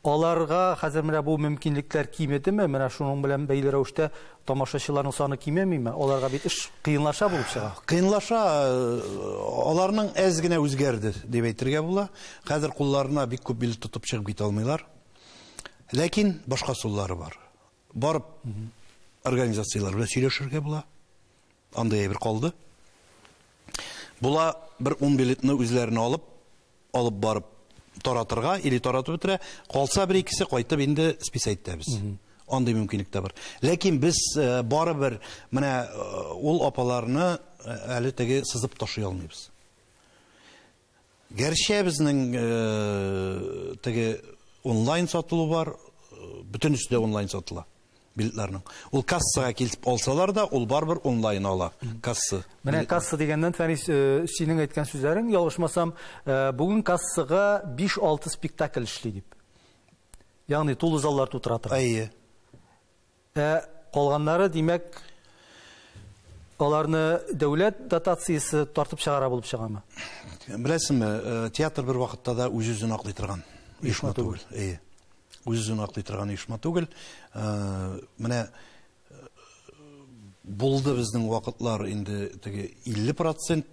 [SPEAKER 1] Аларга хәзер менә бу мөмкинлекләр кимедеме? Менә шуның белән бәйле рәвештә тамашачыларның саны кимемиме? Аларга бит эш кыенлаша булып чыга. Кыенлаша,
[SPEAKER 2] э, аларның әз генә үзгәрде дип әйтергә була. Хәзер кулларына бик күп билет тотып чыгып китә алмыйлар. Ләкин башка суллары бар. Барып организацияләр белән сөйләшергә була. Андый әйбер калды. Була бер 10 билетны үзләренә алып, алып барып таратырга или таратып бетерә, калса бер икесе кайтып инде спис әйтәбез. Андый мөмкинлек тә бар. Ләкин без э, барыбер менә э, ул апаларны э, әле теге сызып ташый алмыйбыз. Гәрчә безнең теге онлайн сатылу бар, бөтенесе дә онлайн сатыла билетларның. Ул кассага килеп алсалар да, ул барбер онлайн ала. Касса. Менә касса дигәннән
[SPEAKER 1] Фәнис, э, синең әйткән сүзләрең, ялгышмасам, э, бүген кассага 5-6 спектакль эшли дип. Ягъни тулы заллар тутыра торган. Әйе.
[SPEAKER 2] Ә
[SPEAKER 1] калганнары, димәк, аларны дәүләт дотациясе тартып чыгара булып чыгамы? Беләсеңме,
[SPEAKER 2] э, театр бер вакытта да үз-үзен аклый торган оешма түгел. Әйе. Үз-үзен аклый торган оешма түгел. Э, менә э, булды безнең вакытлар инде теге 50%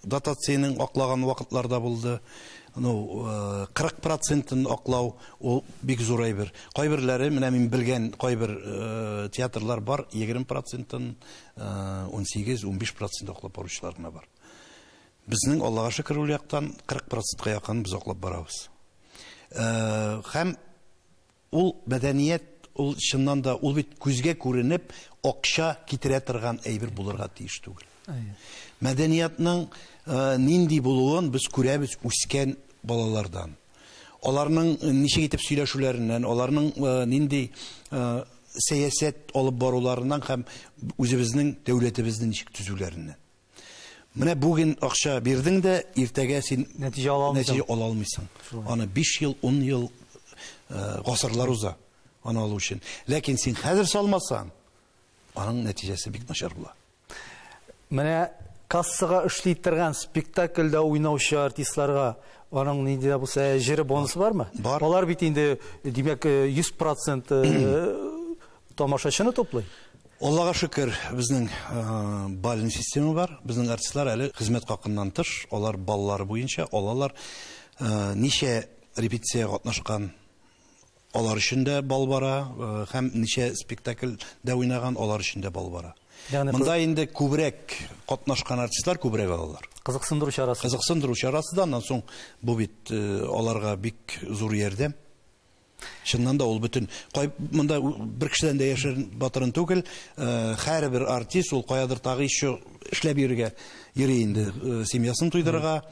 [SPEAKER 2] Дотациянең аклаган вакытлар да булды. Ну, 40 процентын аклау, ул бик зур әйбер. Кайберләре, менә мин белгән кайбер театрлар бар, 20 процентын, 18-15 процент аклап баручылар гына бар. Безнең, Аллага шөкер, ул яктан 40 процентка якын без аклап барабыз. Һәм Ул мәдәният, ул чыннан да, ул бит күзгә күренеп акча китерә торган әйбер булырга тиеш түгел. Мәдәниятның нинди булуын без күрәбез үскән балалардан. Аларның ничек итеп сөйләшүләреннән, аларның нинди сәясәт алып баруларыннан һәм үзебезнең дәүләтебезне ничек төзүләреннән. Менә бүген акча бирдең дә, иртәгә син нәтиҗә ала алмыйсың. Нәтиҗә ала алмыйсың. Аны 5 ел, 10 ел э, гасырлар уза аны алу өчен. Ләкин син хәзер салмасаң, аның нәтиҗәсе бик начар була. Менә
[SPEAKER 1] кассага эшли торган спектакльдә уйнаучы артистларга аның нинди дә булса җире бонусы бармы? Бар. Алар бит инде димәк 100% э, э, Тамашачыны туплый? Аллага шөкер,
[SPEAKER 2] безнең бальный система бар. Безнең артистлар әле хезмәт хакыннан тыш, алар баллары буенча алалар. Ничә репетиция катнашкан, алар өчен дә бал бара, һәм ничә спектакль дә уйнаган, алар өчен дә бал бара. Монда инде күбрәк катнашкан артистлар күбрәк алалар. Кызыксындыру чарасы.
[SPEAKER 1] Кызыксындыру чарасы да,
[SPEAKER 2] аннан соң бу бит аларга бик зур ярдәм. Чыннан да ул бөтен кай монда бер кешедән дә яшерен батырын түгел. Һәрбер артист ул каядыр тагы еще эшләп йөрергә йөри инде. Семьясын туйдырырга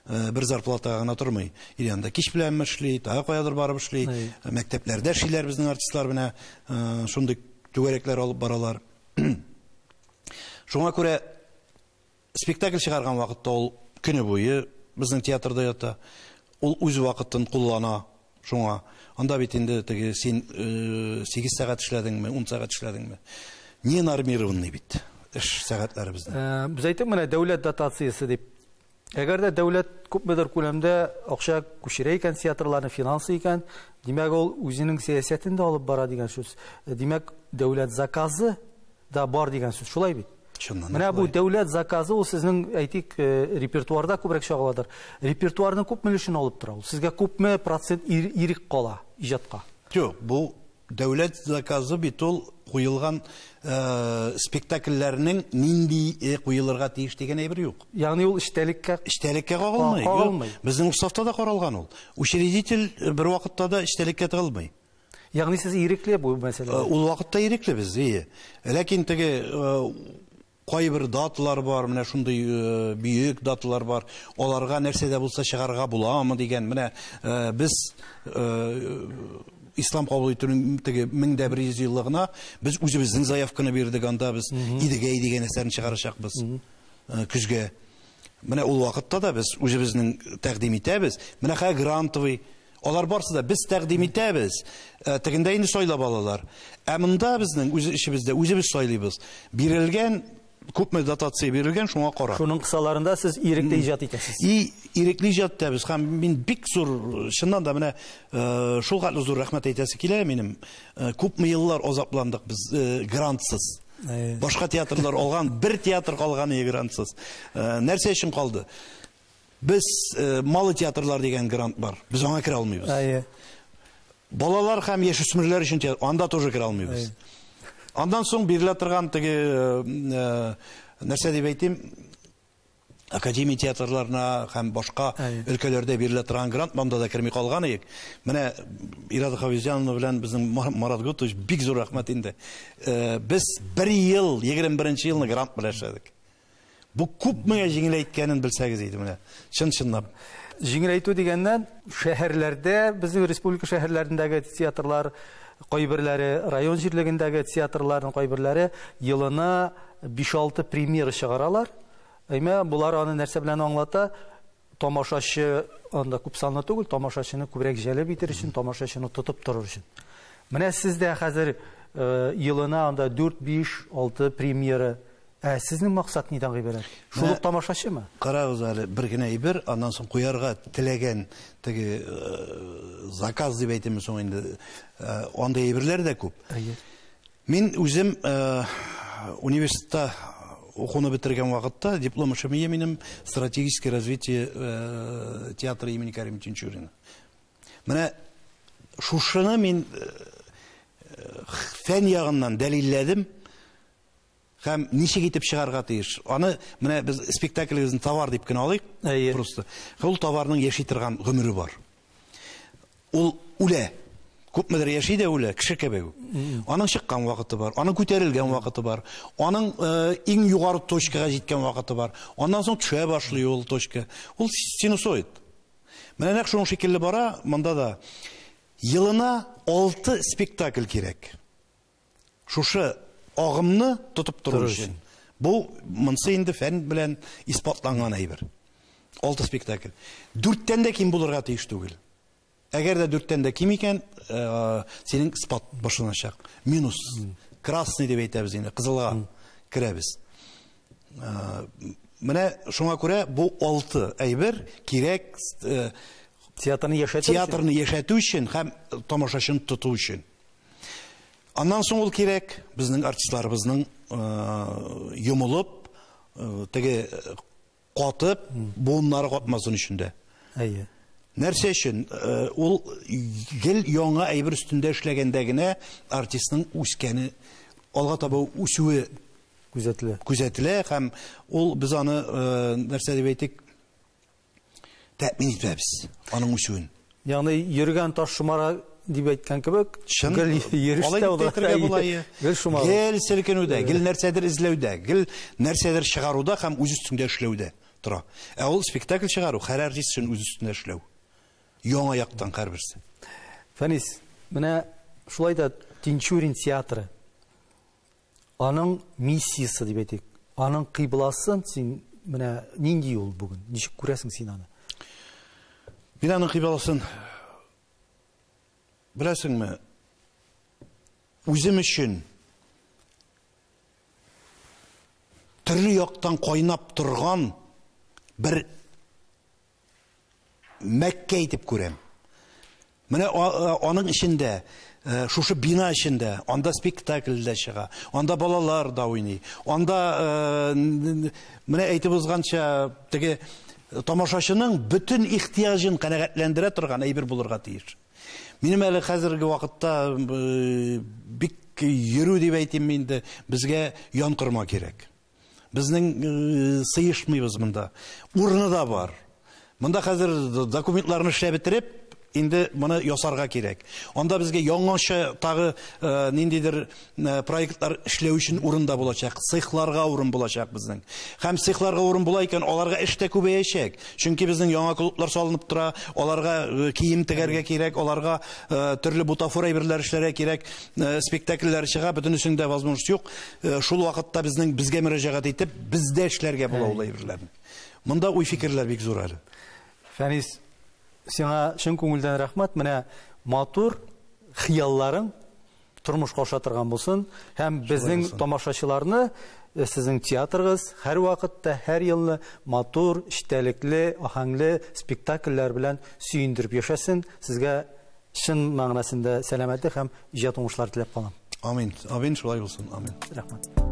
[SPEAKER 2] бер зарплатага гына тормый. Ир янында кич беләнме эшли, тагы каядыр барып эшли. Мәктәпләрдә эшлиләр безнең артистлар менә шундый түгәрәкләр алып баралар. Шуңа күрә Спектакль чыгарган вакытта ул көне буе безнең театрда ята. Ул үз вакытын куллана шуңа. Анда бит инде теге син сигез сәгать эшләдеңме, ун сәгать эшләдеңме? Не нормированный бит эш сәгатьләре безнең. Без әйттек менә дәүләт
[SPEAKER 1] дотациясе дип. Әгәр дә дәүләт күпмедер күләмдә акча күчерә икән театрларны финансы икән, димәк ул үзенең сәясәтен дә алып бара дигән сүз. Димәк, дәүләт заказы да бар дигән сүз, шулай бит? Чыннан Менә бу дәүләт заказы ул сезнең, әйтик, э, репертуарда күбрәк чагыладыр. Репертуарның күп өлешен алып тора ул. Сезгә күпме процент ирек кала иҗатка? Юк, бу
[SPEAKER 2] дәүләт заказы бит ул куелган э, спектакльләрнең нинди э, куелырга тиеш дигән әйбер юк. Ягъни ул эчтәлеккә
[SPEAKER 1] эчтәлеккә кагылмый.
[SPEAKER 2] Кагылмый. Безнең уставта да каралган ул. Учредитель бер вакытта да эчтәлеккә тыгылмый. Ягъни сез
[SPEAKER 1] ирекле бу мәсьәләдә? Ул вакытта ирекле без,
[SPEAKER 2] ие. Ләкин теге кайбер даталар бар, менә шундый бөек даталар бар. Аларга нәрсә дә булса чыгарга буламы дигән. Менә без ислам кабул итүнең теге 1100 еллыгына без үзебезнең заявканы бирдек, анда без Идегәй дигән әсәрне чыгарачакбыз көзгә. Менә ул вакытта да без үзебезнең тәкъдим итәбез. Менә хәзер грантовый Алар барсы да без тәкъдим итәбез. Э, тегендә инде сайлап алалар. Ә монда безнең үз эшебездә үзебез сайлыйбыз. Бирелгән күпме дотация бирелгән, шуңа карап. Шуның кысаларында сез
[SPEAKER 1] ирекле иҗат итәсез. И ирекле иҗат
[SPEAKER 2] итәбез һәм мин бик зур, чыннан да менә э, шул хәтле зур рәхмәт әйтәсе килә минем. Э, күпме еллар азапландык без э, грантсыз. Башка театрлар алган, бер театр калган грантсыз. Нәрсә өчен калды? Без малы театрлар дигән грант бар. Без аңа керә алмыйбыз. Әйе. Балалар һәм яшүсмерләр өчен анда тоже керә алмыйбыз. Андан соң бирелә торган теге нәрсә дип әйтим, академия театрларына һәм башка өлкәләрдә бирелә торган грант монда да керми калган идек. Менә Ирада Хавизянова белән безнең Марат Гутович бик зур рәхмәт инде. Без бер ел, 21 елны грант белән эшләдек. Бу күпмегә җиңеләйткәнен белсәгез иде менә, чын-чынлап. Җиңеләйтү
[SPEAKER 1] дигәннән, шәһәрләрдә, безнең республика шәһәрләрендәге театрлар кайберләре, район җирлегендәге театрларның кайберләре елына 5-6 премьера чыгаралар. Әмма болар аны нәрсә белән аңлата? тамашачы анда күп санлы түгел, тамашачыны күбрәк җәлеп итер өчен, тамашачыны тотып торыр өчен. Менә сез дә хәзер э, елына анда 4, 5, 6 премьера. Ә сезнең максат нидән гыйбарәт? Шул ук тамашачымы? Карагыз әле, бер
[SPEAKER 2] генә әйбер, аннан соң куярга теләгән теге э, заказ дип әйтәме соң инде, э, андый әйберләр дә күп. Әйе. Мин үзем университетта укуны бетергән вакытта диплом эшем ие минем стратегическое развитие э, театра имени Карим Тинчурина. Менә шушыны мин э, фән ягыннан дәлилләдем. Һәм ничек итеп чыгарга тиеш? Аны менә без спектаклебезне товар дип кенә алыйк. Әйе. Просто. Ул товарның яши торган гомере бар. Ул үлә. Күпмедер яши дә үлә, кеше кебек. Аның чыккан вакыты бар, аның күтәрелгән вакыты бар, аның э, иң югары точкага җиткән вакыты бар. Аннан соң төшә башлый ул точка. Ул синусоид. Менә нәкъ шуның шикелле бара, монда да елына алты спектакль кирәк. Шушы агымны тотып тору өчен. Бу монсы инде фән белән исбатланган әйбер. Алты спектакль. Дүрттән дә ким булырга тиеш түгел. Әгәр дә дүрттән дә ким икән, э, синең спад башланачак. Минус. Красный дип әйтәбез инде, кызылга керәбез. Э, менә шуңа күрә бу алты әйбер кирәк
[SPEAKER 1] э, театрны
[SPEAKER 2] яшәтү өчен һәм тамашачыны тоту өчен. Аннан соң ул кирәк, безнең артистларыбызның йомылып, теге катып, буыннары катмасын өчен дә. Әйе.
[SPEAKER 1] Нәрсә өчен?
[SPEAKER 2] Ул гел яңа әйбер өстендә эшләгәндә генә артистның үскәне, алга таба үсүе күзәтелә. Күзәтелә һәм ул без аны нәрсә дип әйтик, тәэмин итәбез аның үсүен. Ягъни йөргән
[SPEAKER 1] таш шомара дип әйткән кебек, гел йөрештә ул.
[SPEAKER 2] Гел шомара. Гел селкенүдә, гел нәрсәдер эзләүдә, гел нәрсәдер чыгаруда һәм үз өстендә эшләүдә тора. Ә ул спектакль чыгару, һәр артист өчен үз өстендә эшләү. Яңа яктан һәрберсе. Фәнис,
[SPEAKER 1] менә шулай да Тинчурин театры. Аның миссиясе дип әйтик, аның кыйбласын син менә нинди ул бүген? Ничек күрәсең син аны?
[SPEAKER 2] Мин аның кыйбласын беләсеңме? Үзем өчен төрле яктан кайнап торган бер Мәккә итеп күрәм. Менә аның эчендә, э, шушы бина эчендә, анда спектакль дә чыга, анда балалар да уйный, анда э, менә әйтеп узганча теге э, тамашачының бөтен ихтияҗын канәгатьләндерә торган әйбер булырга тиеш. Минем әле хәзерге вакытта бик йөрү дип әйтим инде, безгә янкорма кирәк. Безнең сыешмыйбыз монда. Урыны да бар. Монда хәзер документларны эшләп бетереп, инде моны ясарга кирәк. Анда безгә яңача тагы э, ниндидер э, проектлар эшләү өчен урын да булачак. Цехларга урын булачак безнең. Һәм цехларга урын була икән, аларга эш тә күбәячәк. Чөнки безнең яңа клублар салынып тора, аларга э, кием тегәргә кирәк, аларга төрле бутафор әйберләр эшләргә кирәк, спектакльләр чыга, бөтенесендә возможность юк. Шул вакытта безнең безгә мөрәҗәгать итеп, бездә эшләргә була ул әйберләрне. Монда уй-фикерләр бик зур әле. Фәнис,
[SPEAKER 1] сиңа чын күңелдән рәхмәт. Менә матур хыялларың тормышка аша торган булсын һәм безнең тамашачыларны э, сезнең театрыгыз һәр вакытта, һәр елны матур, эчтәлекле, аһәңле спектакльләр белән сөендереп яшәсен. Сезгә Чын мәгънәсендә сәламәтлек һәм иҗат уңышлары
[SPEAKER 2] теләп
[SPEAKER 1] калам. Амин. Амин шулай
[SPEAKER 2] булсын.
[SPEAKER 1] Амин.
[SPEAKER 2] Рәхмәт.